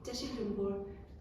བཀྲ་ཤིས་ལྷུན་པོར།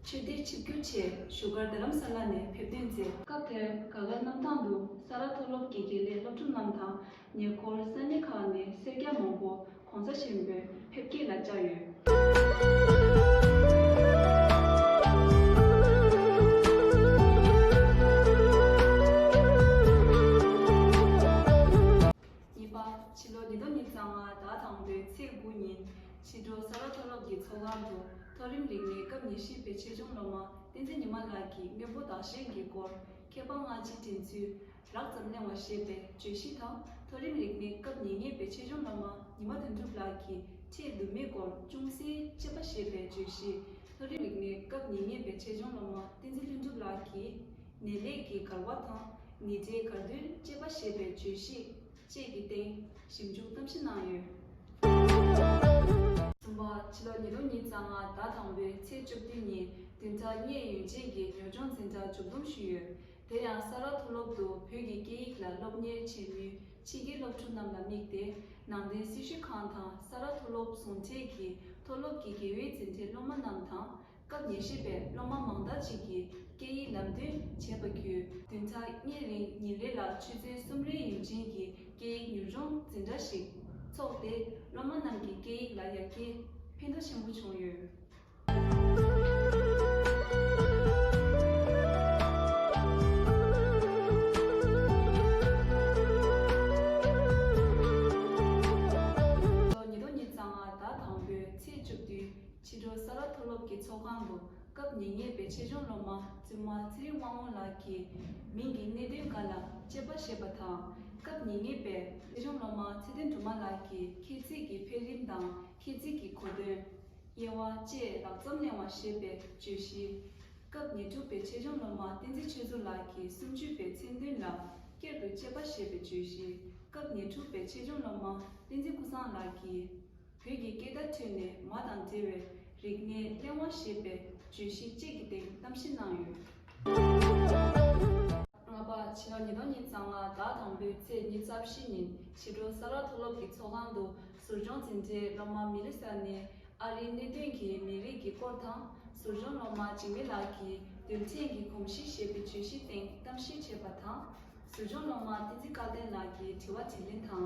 ཆོས་སྡེར་ཆིབས་བསྒྱུར་ཆེད་བཞུགས་སྒར་རྡ་རམ་ས་ལ་ནས་ཕེབས་ཐོན་མཛད། སྐབས་དེར་དགའ་དགའ་གནམ་ཐང་དུ་ས་རཱ་མཐོ་སློབ་ཀྱི་དགེ་ལས་སློབ་ཕྲུག་རྣམས་དང་ཉེ་འཁོར་ས་གནས་ཁག་ནས་སེར་སྐྱ་མང་པོ ྋགོང་ས་ཆེན་པོའི་ཕེབས་སྐྱེལ་ལ་བཅར་ཡོད། གཉིས་པ། ཕྱི་ལོ་ཉིས་སྟོང་ཉིས་བརྒྱ་ང་ཟླ་དང་པོའི་ཚེས་དགུ་ཉིན། ཕྱི་དྲོ་ས་རཱ་མཐོ་སློབ་ཀྱི་ཚོགས་ཁང་དུ་མཐོ་རིམ་རིག་གནས་སྐབས་ཉེར་བཞི་པའི་ཆེད་སྦྱོང་སློབ་མ་བསྟན་འཛིན་ཉི་མ་ལགས་ཀྱིས་དངོས་པོ་བདག་གཞན་གྱི་སྐོར་མཁས་པ་སྔ་ཕྱིའི་དྲན་ཚུལ་རགས་ཙམ་གླེང་བ་ཞེས་པའི་བརྗོད་གཞི་དང་མཐོ་རིམ་རིག་གནས་སྐབས་ཉེ་གཉིས་པའི་ཆེད་སྦྱོང་སློབ་མ་ཉི་མ་དོན་གྲུབ་ལགས་ཀྱིས་ཁྲེལ་འདུན་མེད་སྐོར་ཅུང་ཟད་དཔྱད་པ་ཞེས་པའི་བརྗོད་གཞི་མཐོ་རིམ་རིག་གནས་སྐབས་ཉེ་གཉིས་པའི་ཆེད་སྦྱོང་སློབ་མ་བསྟན་འཛིན་ལྷུན་གྲུབ་ལགས་ཀྱིས་ནད་ལས་ཀྱི་འགལ་བ་དང། ནི་རྗེའི་དགའ་སྟོན་བཅས་པ་ཞེས་པའི་བརྗོད་གཞི་བཅས་ཀྱི་སྟེང་ཞིབ་འཇུག་གཏམ་བཤད་གནང་ཡོད། གསུམ་པ། ཕྱི་ལོ་ཉིས་སྟོང་གཉིས་ཚ་ང་ཟླ་དང་པོའི་ཚེས་བཅོ་བདུན་ཉིན་བདུན་ཚ་གཉེས་ཡོན་ཅན་གྱི་ཉོ་སྦྱོང་འཛིན་གྲྭ་མཇུག་བསྡོམས་ཞུས་ཡོད། དེ་ཡང་ས་རཱ་མཐོ་སློབ་ཏུ་བོད་ཀྱི་སྐད་ཡིག་ལ་སློབ་གཉེར་བྱེད་མུས་ཕྱི་རྒྱལ་སློབ་ཕྲུག་རྣམས་ལ་དམིགས་ཏེ་ནང་བསྟན་སྲི་ཞུ་ཁང་དང་ས་རཱ་མཐོ་སློབ་ཟུང་འབྲེལ་གྱིས་མཐོ་སློབ་ཀྱི་དགེ་འོས་འཛིན་གྲྭའི་སློབ་མ་རྣམས་དང་སྐབས་ཉེར་བཞི་པའི་སློབ་མ་མང་དག་ཅིག་གིས་སྐད་ཡིག་ལམ་སྟོན་བྱས་པ་བརྒྱུད། བདུན་ཚར་གཉིས་རིང་ཉིན་རེ་ལ་ཆུ་ཚོད་གསུམ་རེའི་ཡུན་ཅན་གྱི་སྐད་ཡིག་མྱུར་སྦྱོང་འཛིན་གྲྭ་ཞིག་འཚོགས་ཏེ་སློབ་མ་རྣམས་ཀྱི་སྐད་ཡིག་ལ་ཡར་རྒྱས་ཕན་ཐོགས་ཆེན་པོ་བྱུང་ཡོད། ཉིན་ཐོག་ཉིན་གཙང་མ་ཟླ་དང་པོའི་ཚེས་བཅུ་བདུན། ཕྱི་དྲོ་ས་རཱ་མཐོ་སློབ་ཀྱི་ཚོགས་ཁང་དུ་སྐབས་ཉེ་ཉེས་པའི་ཆེད་སྦྱོང་སློབ་མ་བཙུན་མ་ཚེ་རིང་དབང་མོ་ལགས་ཀྱིས་མིང་གི་གནད་དོན་འགའ་ལ་དཔྱད་པ་ཞེས་པ་དང། སྐབས་ཉེ་ཉེས་པའི་ཆེད་སྦྱོང་སློབ་མ་ཚེ་བརྟན་དུ་མ་ལགས་ཀྱིས་ཁྱད་ཚིག་གི་འཕེལ་རིམ་དང་ཁྱད་ཚིག་གི་གོ་དོན། དབྱེ་བ་བཅས་ལག་རྩོམ་གླེང་བ་ཞེས་པའི་བརྗོད་གཞི། སྐབས་ཉེར་དྲུག་པའི་ཆེད་སྦྱོང་སློབ་མ་བསྟན་འཛིན་ཆོས་མཚོ་ལགས་ཀྱིས་སུམ་ཅུ་པའི་མཚན་མཐུན་ལ་སྐྱར་དུ་དཔྱད་པ་ཞེས་པའི་བརྗོད་གཞི། སྐབས་ཉེར་དྲུག་པའི་ཆེད་སྦྱོང་སློབ་མ་བསྟན་འཛིན་ཀུན་བཟང་ལགས་ཀྱིས། བོད་ཀྱི་སྐད་བརྡ་ཁྲོད་ནས་མ་དང་འབྲེལ་བའི་རིག་གནས་གླེང་བ་ཞེས་པའི་བརྗོད་གཞི་བཅས་ཀྱི་སྟེང་གཏམ་བཤད་གནང་ཡོད། ལྔ་པ། ཕྱི་ལོ་ཉིས་སྟོང་ཉིས་གཙང་ལ་ཟླ་དང་པོའི་ཚེས་ཉེར་གསར་བཞི་ཉིན་ཕྱི་དྲོ་ས་ལ་མཐོ་སློབ་ཀྱི་ཚོགས་ཁང་དུ་ཟུར་སྦྱོང་འཛིན་གྲྭའི་སློབ་མ་མི་ལི་སཱ་ནི་ཨ་རིའི་གནད་དོན་གྱི་མི་རིགས་ཀྱི་སྐོར་དང་ཟུར་སྦྱོང་སློབ་མ་འཇིགས་མེད་ལགས་ཀྱིས་རྡུལ་ཕྲན་གྱི་གོམས་གཤིས་ཞེས་པའི་བརྗོད་གཞིའི་སྟེང་གཏམ་བཤད་བྱས་པ་དང། ཟུར་སྦྱོང་སློབ་མ་བསྟན་འཛིན་བཀའ་བསྟན་ལགས་ཀྱིས་དྲི་བ་དྲིས་ལན་དང